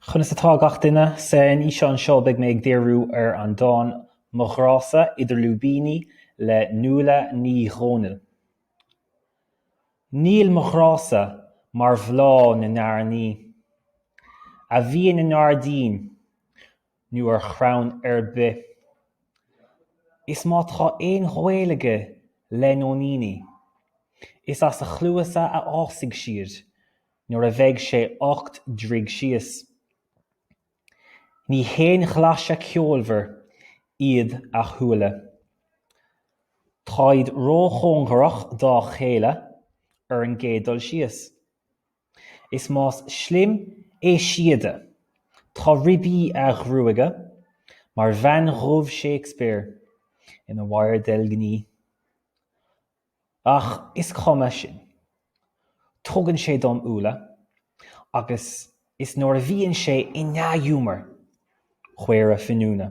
Conas atá gach duine? Sa fhíseán seo beidh mé ag díriú ar an dán 'Mo Ghrá-sa', Idir Lúibíní, le Nuala Ní Dhomhnaill. Níl mo ghrá-sa mar bhláth na n-airní A bhíonn i ngairdín nó ar chrann ar bith. Is má tá aon ghaol aige le nóiníní, is as a chluasa a fhásfaidh siad nuair a bheidh sé ocht dtroigh síos. Ní haon ghlaise ceolmhar iad a shúile. Táid róchóngarach dá chéile ar an gcéad dul síos. Is más slim é síoda, tá ribí a ghruaige mar bhean dhubh Shakespeare ina wire deilgní. Ach is cuma sin. Tugann sé dom úlla agus is nuair a bhíonn sé i ndea-ghiúmar, caora finiúna.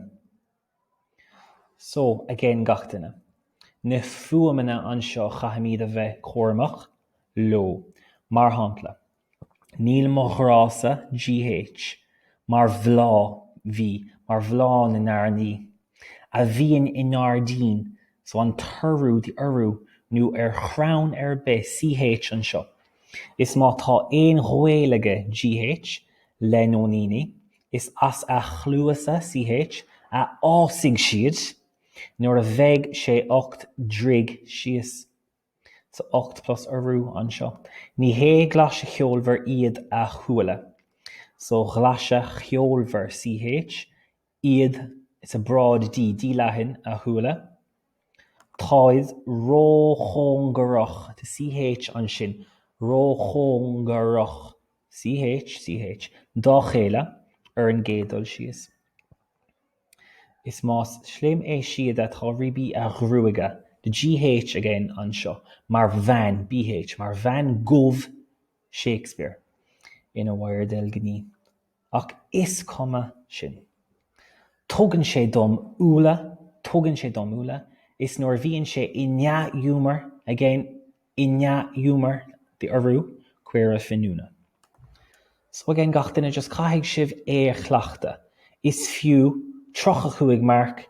So, again gach duine. Na fuaimeanna anseo caithfimid a bheith cúramach leo. Mar shampla, níl mo ghrá-sa, gh, mar bhláth, v, mar bhláth na n-airní, a bhíonn i ngairdín, so an t-urú, the urú, nó ar chrann ar bith, ch, anseo. Is má tá aon ghaol aige, gh, le nóiníní, Is as a chluasa, CH, a fhásfaidh siad nuair a bheidh sé ocht dtroigh síos. So ocht plus urú anseo. Ní hé glaise cheolmhar iad a shúile. So ghlaise cheolmhar, CH, iad, it's a broad D, D leathan, a shúile. Táid róchóngarach, the CH ansin, róchóngarach CH, CH, dá chéile ar an gcéad dul síos. Is más slim é síoda, tá ribí a ghruaige, the gh again anseo, mar bhean, bh, mar bhean dhubh Shakespeare ina wire deilgní. Ach is cuma sin. Tugann sé dom úlla, tugann sé dom úlla, is nuair a bhíonn sé i ndea-ghiúmar, again, I ndea-ghiúmar the urú, caora finiúna. So again gach duine just caithfidh sibh é a chleachtadh. Is fiú tríocha cúig marc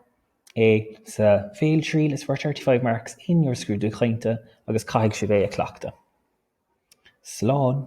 é sa bhéaltriail, it's worth thirty five marks in your scrúdú cainte agus caithfidh sibh é a chleachtadh. Slán.